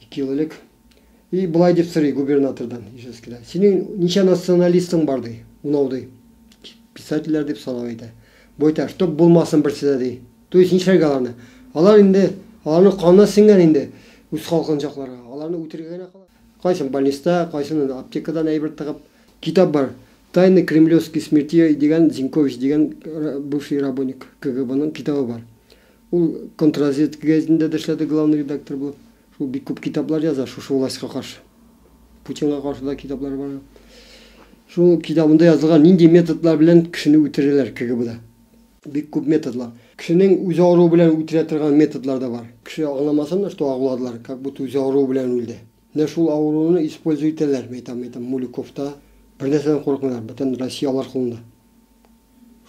Ике ел элек. И болай дип сорый губернатордан Ижевскида. Синең ничә националистың бар, ди. Унау, ди. Писательләр дип санау әйтә. Бу әйтә, чтоб булмасын берсе дә, ди. То есть нишләргә аларны? Алар инде, аларның канына сеңгән инде үз халкын җакларга. Аларны үтерергә генә кала. Кайсын больниста, кайсын аптекадан әйбер тыгып. Китап бар. Тайны кремлевских смертей дигән Зинкович дигән бывший работник КГБның китабы бар. Ул Контрразведка гәҗитендә дә эшләде главный редактор булып. Шул бик күп китаплар яза шушы властька каршы. Путинга каршы да китаплары бар аның. Шул китабында язылган нинди методлар белән кешене үтерәләр КГБда. Бик күп методлар. Кешенең үзе авыруы белән үтерә торган методлар да бар. Кеше аңламасын да, что агуладылар, как будто үзе авыруы белән үлде. Менә шул авыруны используй итәләр, мәйтам, әйтәм, Мулюковта, бернәрсәдән курыкмыйлар, бөтен Россия алар кулында.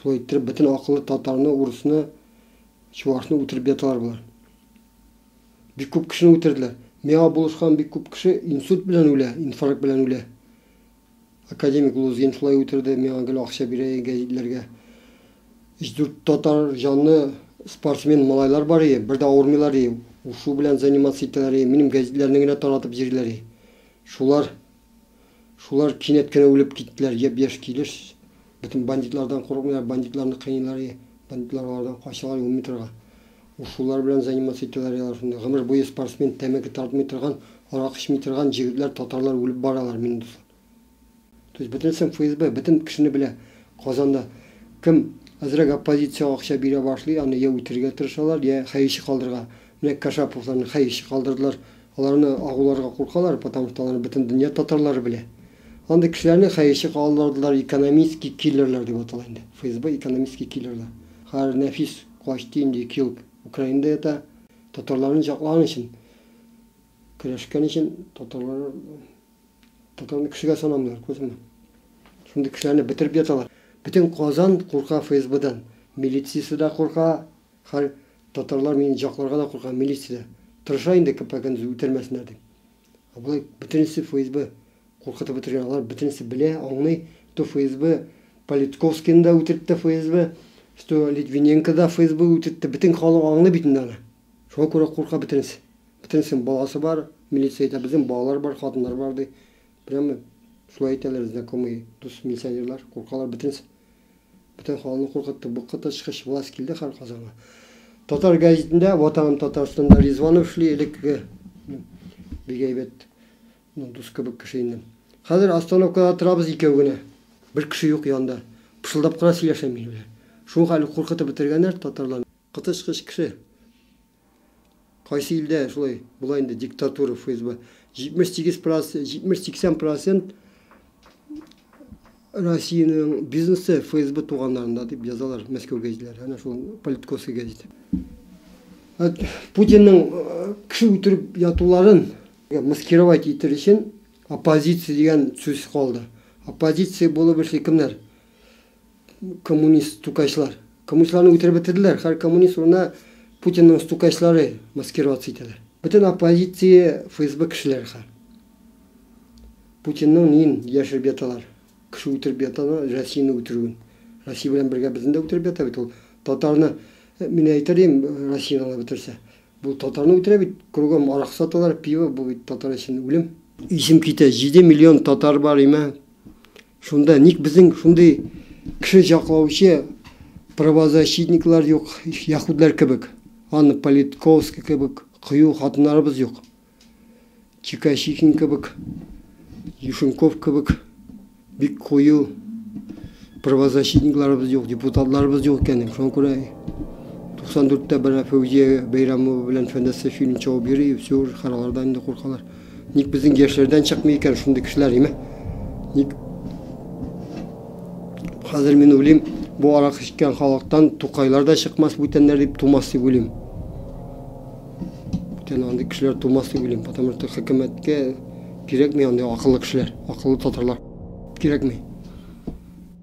Шулай иттереп, бөтен акыллы татарны, урысны, чувашны үтереп яталар болар. Бик күп кешене үтерделәр. Миңа булышкан бик күп кеше инсульт белән үлә, инфаркт белән үлә. Академик Лузгин шулай үтерде, миңа гел акча бирә иде гәҗитләргә. Өч-дүрт татар җанлы спортсмен малайлар бар иде, бер дә авырмыйлар иде. Ушу белән заниматься итәләр иде, минем гәҗитләрне генә таратып йөриләр иде. Шулар, шулар кинәт кенә үлеп киттеләр, япь-яшь килеш. Бөтен бандитлардан курыкмыйлар, бандитларны кыйныйлар иде. Бандитлар алардан качалар ун метрга. Ушулар белән заниматься итәләр ял арасында. Гомер буе спортсмен, тәмәке тартмый торган, арак эчми торган җегетләр, татарлар үлеп баралар, минем дуслар. То есть бөтенесен ФСБ, бөтен кешене белә Казанда. Кем әзрәк оппозициягә акча бирә башлый, аны я үтерергә тырышалар, я хәерче калдырырга. Менә Кашаповларны хәерче калдырдылар. Аларны агуларга куркалар, потому что аларны бөтен дөнья татарлары белә. Андый кешеләрне хәерче калдырдылар, экономистский киллерлар дип атала инде. ФСБ экономистский киллерлар. Хәер, Нәфис Почти инде ике ел Украинада ята. Татарларны җаклаган өчен, көрәшкән өчен татарлар, татарны кешегә санамыйлар, күрдеңме? Шундый кешеләрне бетереп яталар. Бөтен Казан курка ФСБдан. Милициясе дә курка, хәл татарлар мине җакларга да курка, милиция дә. Тырыша инде КП көндез үтермәсеннәр дип. Ә болай бөтенесе ФСБ куркытып бетергән, алар бөтенесе белә, аңлый, что ФСБ Политковскийны да үтертте ФСБ, что Литвиненко да ФСБ үтертте, бөтен халык аңлый бит инде аны. Шуңа күрә курка бөтенесе. Бөтенесенең баласы бар, милиция әйтә, безнең балалар бар, хатыннар бар ди. Прямо шулай әйтәләр знакомые, дус милиционерлар, куркалар бөтенесе. Бөтен халыкны куркытты. Бу коточкыч власть килде һәр Казанга. Татар гәзитендә, Ватаным Татарстанда Ризванов эшли, элеккеге бик әйбәт дус кебек кеше инде. Хәзер остановкада торабыз икәү генә. Бер кеше юк янда. Пышылдап кына сөйләшә минем белән. Шуңа әле куркытып бетергәннәр татарларны. Коточкыч кеше. Кайсы илдә шулай була инде диктатура ФСБ. 78 процент, 70-80 процент Россиянең бизнесы ФСБ туганнарында дип язалар Мәскәү гәзитләре. Әнә шул политкосы гәзит. Путинның э, кеше үтереп ятуларын маскировать итер өчен оппозиция дигән сүз калды. Оппозиция булып эшли кемнәр? Коммунист стукачлар. Коммунистларны үтереп бетерделәр. Хәр коммунист урына Путинның стукачлары маскироваться итәләр. Бөтен оппозиция ФСБ кешеләре хәр. Путинның нин яшереп яталар. Кеше үтереп яталар, Россияне үтерүен. Россия белән бергә безне дә үтереп ята бит ул. Татарны мин әйтер идем, Россияне ала бетерсә. Бу татарны үтерә бит, кругом арак саталар, пиво, бу бит татар өчен үлем. Исем китә, 7 миллион татар бар име? Шунда ник безнең шундый кеше җаклаучы правозащитниклар юк, яһүдләр кебек, Анна Политковская кебек кыю хатыннарыбыз юк? Чикачихин кебек, Юшенков кебек бик кую правозащитникларыбыз юк, депутатларыбыз юк икән. Шуңа күрә 94 тә бара Фәүзия Бәйрәмова белән Фәндәс Сәфиуллин чабып йөри, все, уже харалардан инде куркалар. Ник безнең яшьләрдән чыкмый икән шундый кешеләр, име? Ник хәзер мин уйлыйм, бу аракы эчкән халыктан тукайлар да чыкмас бүтәннәр дип тумас дип уйлыйм. Бүтән андый кешеләр тумас дип уйлыйм, потому что хөкүмәткә кирәкми андый акыллы кешеләр, акыллы татарлар кирәкми.